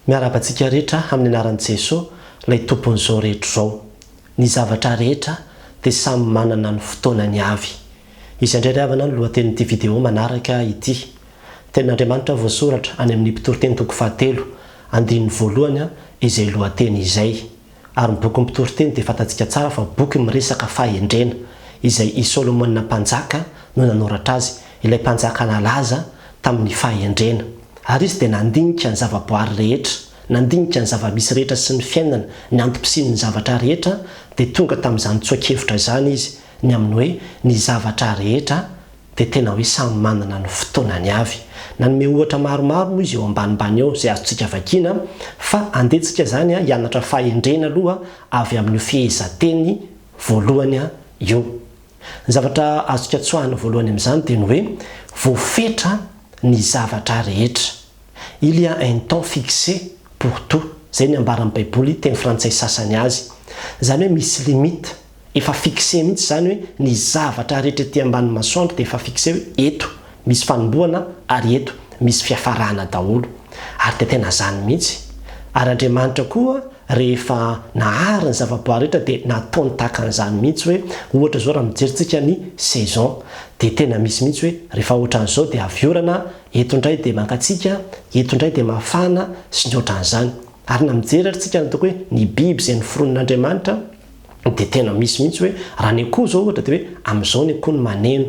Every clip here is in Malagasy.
Miarahaba antsika rehetra amin'ny anaran'i Jeso, ilay Tompon'izao rehetra izao. Ny zavatra rehetra dia samy manana ny fotoanany avy. Izay indray ry havana no lohatenin'ity video manaraka ity. Tenin'Andriamanitra voasoratra any amin'ny Mpitoriteny toko fahatelo, andininy voalohany, izay lohateny izay. ary ny bokin'ny Mpitoriteny dia fantatsika tsara fa boky miresaka fahendrena, izay i Solomona Mpanjaka no nanoratra azy, ilay mpanjaka nalaza tamin'ny fahendrena. Ary izy dia nandinika ny zavaboary rehetra, nandinika ny zava-misy rehetra sy ny fiainana, ny antom-pisian'ny zavatra rehetra, dia tonga tamin'izany tsoa-kevitra izany izy, ny amin'ny hoe ny zavatra rehetra dia tena hoe samy manana ny fotoanany avy. Nanome ohatra maromaro moa izy eo ambanimbany eo izay azontsika vakiana fa andehantsika izany hianatra fahendrena aloha avy amin'io fehezanteny voalohany io. Ny zavatra azontsika tsoahina voalohany amin'izany dia ny hoe voafetra ny zavatra rehetra, il y a un temps fixe pour tout, izay ny ambaran'ny baiboly teny frantsay sasany azy. Izany hoe misy limite. Efa fixe mihitsy izany hoe ny zavatra rehetra ety ambanin'ny masoandro dia efa fixe hoe eto misy fanombohana ary eto misy fiafarana daholo. Ary dia tena izany mihitsy. Ary Andriamanitra koa rehefa nahary ny zavaboary rehetra dia nataony tahaka an'izany mihitsy hoe ohatra izao raha mijerintsika ny saison dia tena misy mihitsy hoe rehefa ohatran'izao dia avy orana, eto indray dia mangatsiaka, eto indray dia mafana sy ny ohatran'izany. Ary na mijery ary tsika ny ataoko hoe ny biby izay noforonin'Andriamanitra, dia tena misy mihitsy hoe raha ny akoho izao ohatra dia hoe amin'izao ny akoho no maneno,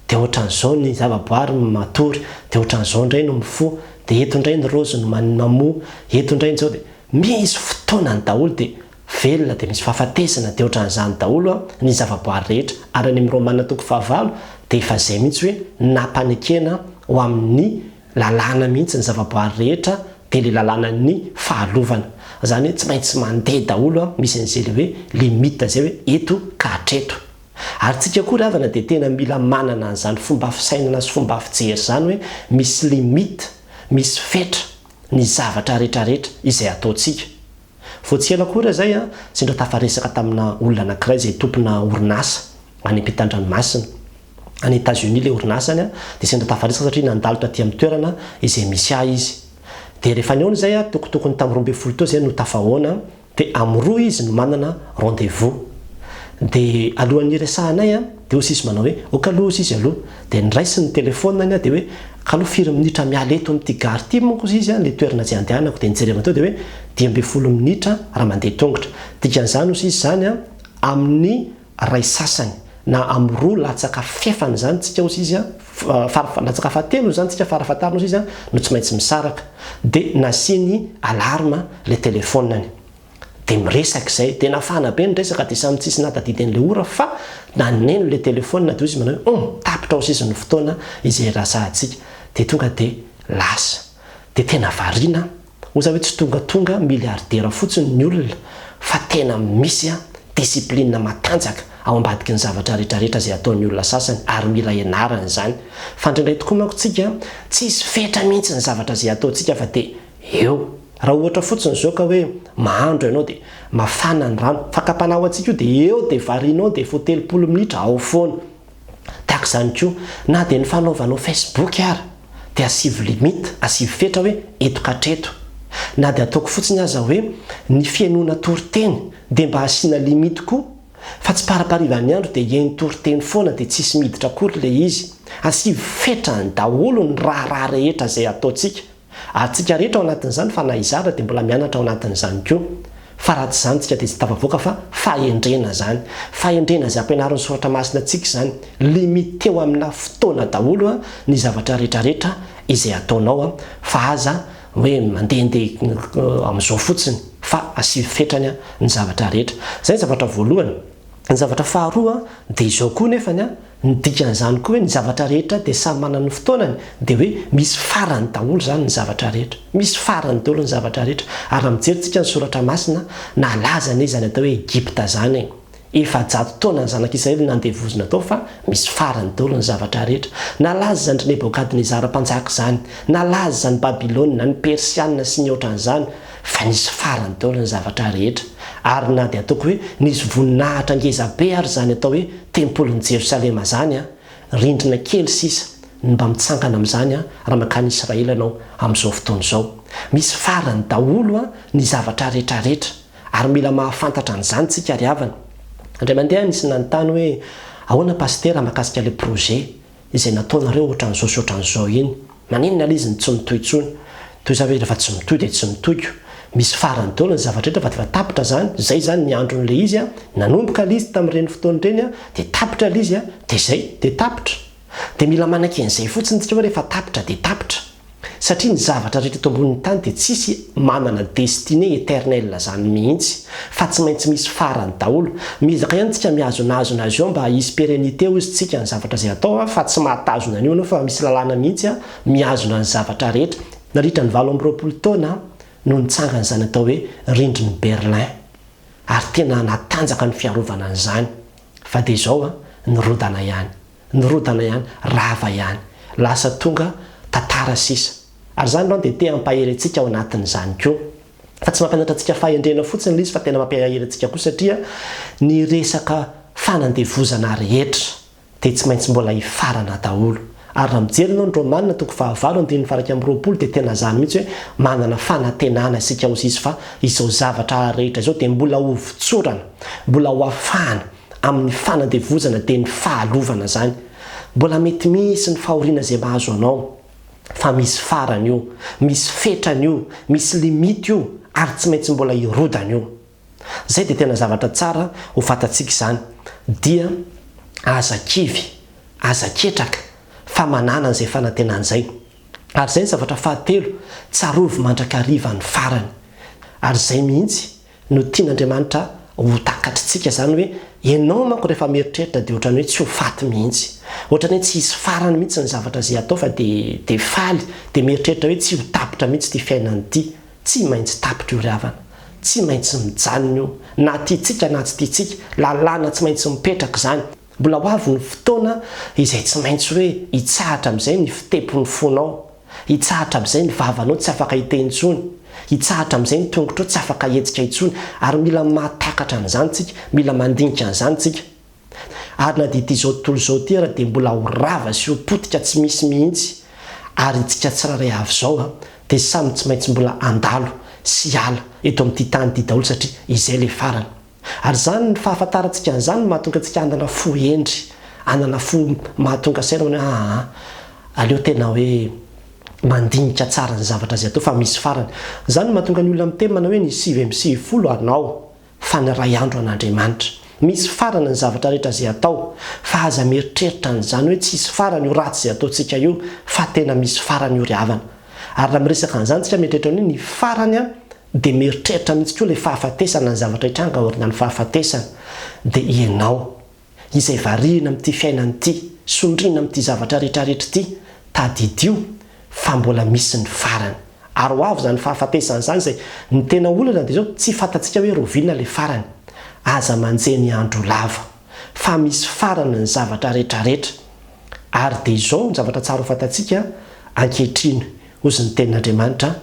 dia ohatran'izao ny zavaboary no matory, dia ohatran'izao indray no mifoha, dia eto indray ny raozy no mamoa, eto indray ny izao dia misy fotoanany daholo dia velona dia misy fahafatesana dia ohatran'izany daholo ny zavaboary rehetra ary any amin'ny Romana toko fahavalo dia efa izay mihitsy hoe nampanekena ho amin'ny Lalàna mihitsy ny zavaboary rehetra dia le lalàna ny fahalovana. Zany hoe tsy maintsy mandeha daholo an, misy an'izay le hoe limite zay hoe eto ka hatreto. Ary tsika koa ry havana dia tena mila manana an'izany fomba fisainana sy fomba fijery zany hoe misy limite, misy fetra ny zavatra rehetra rehetra izay ataontsika. Vao tsy ela akory zay an, sendra tafaresaka tamina olona anakiray izay tompona orinasa any ampitan-dranomasina. any Etats-Unis ilay orinasany dia sendra tafaresaka satria nandalo taty amin'ny toerana izay misy ahy izy. Dia rehefa nihaona izay aho, tokotokony tamin'ny roa ambin'ny folo teo izay no tafahaona, dia amin'ny roa izy no manana rendez-vous. Dia alohan'ny hiresahanay dia hoy sisa manao hoe, ok aloha hoy izy aloha. Dia niraisiny ny telefaoniny aho dia hoe, ka aloha firy minitra miala eto amin'ity gare ity manko hoy izy ilay toerana izay handehanako. Dia nijerevana teo dia hoe, dimy ambin'ny folo minitra raha mandeha tongotra. Dikan'izany hoy izy izany amin'ny. iray sasany na amin'ny roa latsaka fahefany izany tsika ozy izy an, latsaka fahatelony izany tsika fara fahatariny ozy izy an, no tsy maintsy misaraka, dia nasiany alarme ilay telefonany, dia miresaka izay, dia nafana be ny resaka dia samy tsisy nahatadidy an'ilay ora fa na neno ilay telefona dia ozy izy manao hoe hum tapitra ozy izy ny fotoana izay hiresahantsika, dia tonga dia lasa, dia tena variana an. Moa zany hoe tsy tongatonga milliardaire fotsiny ny olona fa tena misy discipline matanjaka ao ambadiky ny zavatra retraretra izay ataon'ny olona sasany ary mila ianarana izany fa indraindray tokoa manko tsika tsy hisy fetra mihintsy ny zavatra izay ataontsika fa dia eo raha ohatra fotsiny izao ka hoe mahandro ianao dia mafana ny rano fakam-panahy ho antsika io dia eo dia varianao dia vao telopolo minitra ao foana Tahaka izany koa, na dia ny fanaovanao Facebook ara dia asivo limite, asivo fetra hoe eto ka hatreto. Na dia ataoko fotsiny aza hoe ny fihenoana toriteny dia mba asiana limite koa fa tsy paraparivan'ny andro dia hihaino toriteny foana dia tsisy miditra akory ilay izy. Asivo fetra any daholo ny raharaha rehetra izay ataontsika. Ary tsika rehetra ao anatin'izany fa na i Zara dia mbola mianatra ao anatin'izany koa. Fa raha tsy izany tsika dia tsy tafavoaka fa fahendrena izany. Fahendrena izay ampianarin'ny soratra masina antsika izany. Limiter-o amina fotoana daholo ny zavatra rehetra rehetra izay ataonao fa aza hoe mandehandeha amin'izao fotsiny fa asio fetrany ny zavatra rehetra. Izay ny zavatra voalohany. Ny zavatra faharoa dia izao koa nefany. Ny dikan'izany koa hoe ny zavatra rehetra dia samy manana ny fotoanany dia hoe misy farany daholo izany ny zavatra rehetra. Misy farany daholo ny zavatra rehetra ary raha mijery tsika ny soratra masina, nalaza anie izany atao hoe Egypta izany e! Efajato taona ny zanak'Israely nandevozina tao fa misy farany daholo ny zavatra rehetra. Nalaza izany ry Nebokadnezara mpanjaka izany, nalaza izany Babylona, ny Persiana sy ny otran'izany. Fa nisy farany daholo ny zavatra rehetra, ary na dia ataoko hoe nisy voninahitra ngeza be ary izany atao hoe tempolin'i Jerosalema izany, rindrina kely sisa ny mba mitsangana amin'izany raha mankany Israely ianao amin'izao fotoana izao. Misy farany daholo ny zavatra retraretra, ary mila mahafantatra an'izany tsika ry havana. Indray mandeha nisy nanontany hoe, Ahoana Pasitera mahakasika ilay projet? Izay nataonareo ohatran'izao sy ohatran'izao iny, maninona ilay izy no tsy mitohy intsony? Toy izany ve izy rehefa tsy mitohy dia tsy mitohy ko? Misy farany daholo ny zavatra rehetra fa efa tapitra izany, izay izany ny andron'ilay izy a, nanomboka ilay izy tamin'ireny fotoana ireny a, dia tapitra ilay izy a, dia izay, dia tapitra. Dia mila manaiky an'izay fotsiny isika hoe rehefa tapitra dia tapitra. Satria ny zavatra rehetra eto ambonin'ny tany dia tsisy manana destinée éternelle zany mihitsy fa tsy maintsy misy farany daholo. Miezaka ihany tsika mihazonazona azy eo mba hisy pérennité ozy tsika ny zavatra izay atao fa tsy mahatazona an'io anao fa misy lalàna mihitsy mihazona ny zavatra rehetra. Nandritra ny valo amby roapolo taona no nitsangana izany atao hoe rindrin'i Berlin ary tena natanjaka ny fiarovana an'izany fa dia izao nirodana ihany. Nirodana ihany, rava ihany. Lasa tonga tantara sisa. Ary izany irony dia te hampahery antsika ao anatin'izany koa. Fa tsy mampianatra antsika fahendrena fotsiny ilay izy fa tena mampiahery antsika koa satria ny resaka fanandevozana rehetra dia tsy maintsy mbola hifarana daholo. Ary raha mijery ianao ny Romana toko fahavalo andininy faha iraika amby roapolo dia tena izany mihitsy hoe manana fanantenana isika hozizy fa izao zavatra rehetra izao dia mbola hovotsorana, mbola hoafahana. amin'ny fanandevozana dia ny fahalovana izany. Mbola mety misy ny fahoriana izay mahazo anao, fa misy farany io, misy fetrany io, misy limite io ary tsy maintsy mbola hirodana io. Izay dia tena zavatra tsara ho fantatsika izany, dia aza kivy, aza ketraka fa manana an'izay fanantenana izay. Ary izay ny zavatra fahatelo, tsarovy mandrakariva ny farany. Ary izay mihitsy no tian'Andriamanitra ho takatr'tsika izany hoe ianao manko rehefa mieritreritra dia ohatran'ny hoe tsy ho faty mihitsy. Ohatran'ny hoe tsy hisy farany mihitsy ny zavatra izay atao fa dia dia faly, dia mieritreritra hoe tsy ho tapitra mihitsy ity fiainana ity. Tsy maintsy tapitra io ry havana. Tsy maintsy mijanona io. Na tiantsika na tsy tiantsika. Lalàna tsy maintsy mipetraka izany. Mbola ho avy ny fotoana izay tsy maintsy hoe hitsahatra amin'izay ny fitepon'ny fonao, hitsahatra amin'izay ny vavanao tsy afaka hiteny intsony, hitsahatra amin'izay ny tongotrao tsy afaka hihetsika intsony, ary mila mahatakatra an'izany isika, mila mandinika an'izany isika. Ary na dia ity izao tontolo izao ity ary dia mbola ho rava sy ho potika tsy misy mihitsy, ary itsika tsirairay avy izao dia samy tsy maintsy mbola handalo sy hiala eto amin'ity tany ity daholo satria izay ilay farany. Ary izany, ny fahafantarantsika an'izany no mahatonga antsika hanana fo hendry, hanana fo mahatonga saina hoe aa, aleo tena hoe mandinika tsara ny zavatra izay atao fa misy farany. Izany no mahatonga ny olona miteny manao hoe ny sivy amby sivifolo hanao fa ny iray andro an'Andriamanitra. Misy farany ny zavatra rehetra izay atao fa aza mieritreritra an'izany hoe tsy hisy farany io ratsy izay ataontsika io fa tena misy farany io ry havana. Ary raha miresaka an'izany isika mieritreritra ny hoe ny farany an, Dia mieritreritra mihitsy koa ilay fahafatesana ny zavatra hitranga aoriana ny fahafatesana. Dia ianao, izay variana amin'ity fiainana ity, sondriana amin'ity zavatra rehetra rehetra ity, tadidio fa mbola misy ny farany. Ary ho avy izany fahafatesana izany izay ny tena olana dia izao tsy fantatsika hoe roviana ilay farany. Aza manjehy ny andro lava. fa misy farany ny zavatra retraretra, ary dia izao no zavatra tsara ho fantatsika ankehitriny, hoy ny Tenin'Andriamanitra,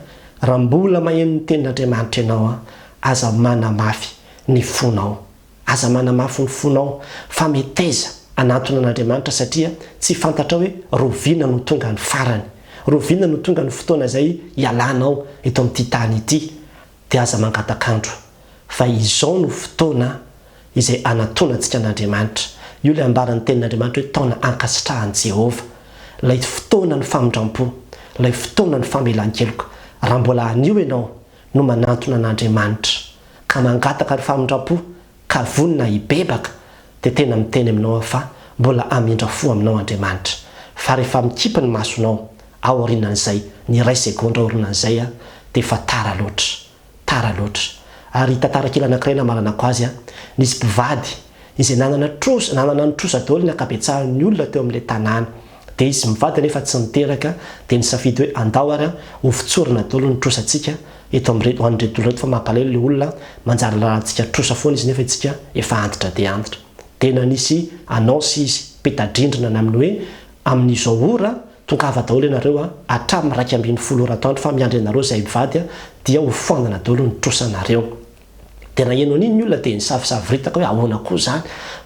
Raha mbola maheno ny Tenin'Andriamanitra ianao, aza manamafy ny fonao. Aza manamafy ny fonao, fa meteza hanantona an'Andriamanitra, satria tsy fantatrao hoe roviana no tonga ny farany, roviana no tonga ny fotoana izay hialanao eto amin'ity tany ity. dia aza mangatak'andro fa izao no fotoana izay hanatonantsika an'Andriamanitra. Io ilay ambaran'ny Tenin'Andriamanitra hoe taona ankasitrahan'i Jehovah, ilay fotoanan'ny famindram-po, ilay fotoanan'ny famelan-keloka. Raha mbola anio ianao no manantona an'Andriamanitra, ka mangataka ny famindram-po ka vonona hibebaka dia tena miteny aminao aho fa mbola hamindra fo aminao Andriamanitra fa rehefa mikipy ny masonao ao aorianan'izay ny iray segondra aorinan'izay aho dia efa tara loatra tara loatra ary hita tarakila anankiray namaranako azy aho nisy mpivady izay nanana trosa nanana ny trosa daholo ny ankabetsahan'ny olona teo amin'ilay tanàna Dia izy mivady nefa tsy niteraka, dia nisafidy hoe andao ary ho fotsorina daholo ny trosantsika eto amin'ireto, ho an'ireto olona ireto fa mampalahelo ilay olona manjary lalantsika trosa foana izy nefa itsika efa antitra dia antitra. Dia nanisy annonce izy, peta-drindrina na amin'ny hoe amin'izao ora tongava daholo ianareo hatramin'ny iraika ambin'ny folo ora atoandro fa miandry anareo izay mivady dia ho foanana daholo ny trosanareo. Dia naheno an'iny ny olona dia nisavosavoritaka hoe ahoana koa izany?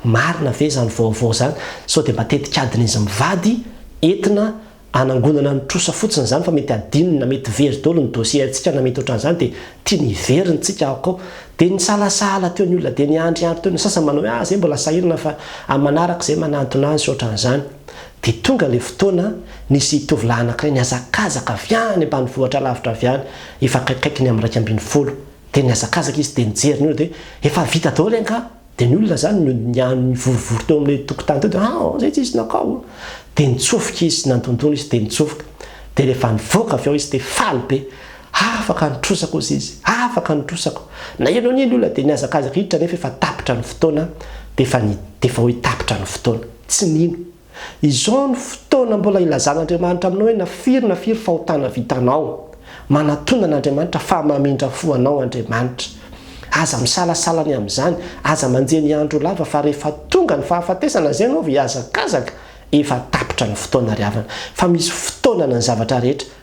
Marina ve izany vaovao izany? Sao dia mba tetikadin'izy mivady entina hanangonana ny trosa fotsiny izany fa mety hadinony na mety very daholo ny dossier-ntsika na mety ohatran'izany dia tiany hiverina isika ao koa. Dia nisalasahala teo ny olona dia niandriandry teo, ny sasany manao hoe ah zay mbola sahirana fa amin'ny manaraka izay manantona azy sy ohatran'izany. Dia tonga ilay fotoana nisy tovolahy anankiray nihazakazaka avy any ambanivohitra lavitra avy any efa akaikikaiky ny amin'ny iraika ambin'ny folo Dia nihazakazaka izy dia nijery ny olona dia efa vita daholo angaha? Dia ny olona izany no niany nivorivory teo amin'ilay tokotany teo dia ah izay tsisy nakao a! Dia nitsofoka izy nandondona izy dia nitsofoka. Dia rehefa nivoaka avy ao izy dia faly be. Afaka ny trosako hozy izy, afaka ny trosako. Naheno an'iny ny olona dia nihazakazaka hiditra nefa efa tapitra ny fotoana dia efa ny dia efa hoe tapitra ny fotoana. Tsy nino. Izao no fotoana mbola hilazan'Andriamanitra aminao hoe na firy na firy fahotana vitanao. Manatona an'Andriamanitra fa mamindra fo anao Andriamanitra. Aza misalasala ny amin'izany, aza manjeny andro ho lava fa rehefa tonga ny fahafatesana izay ianao vao hihazakazaka, efa tapitra ny fotoana ry havana. Fa misy fotoanana ny zavatra rehetra,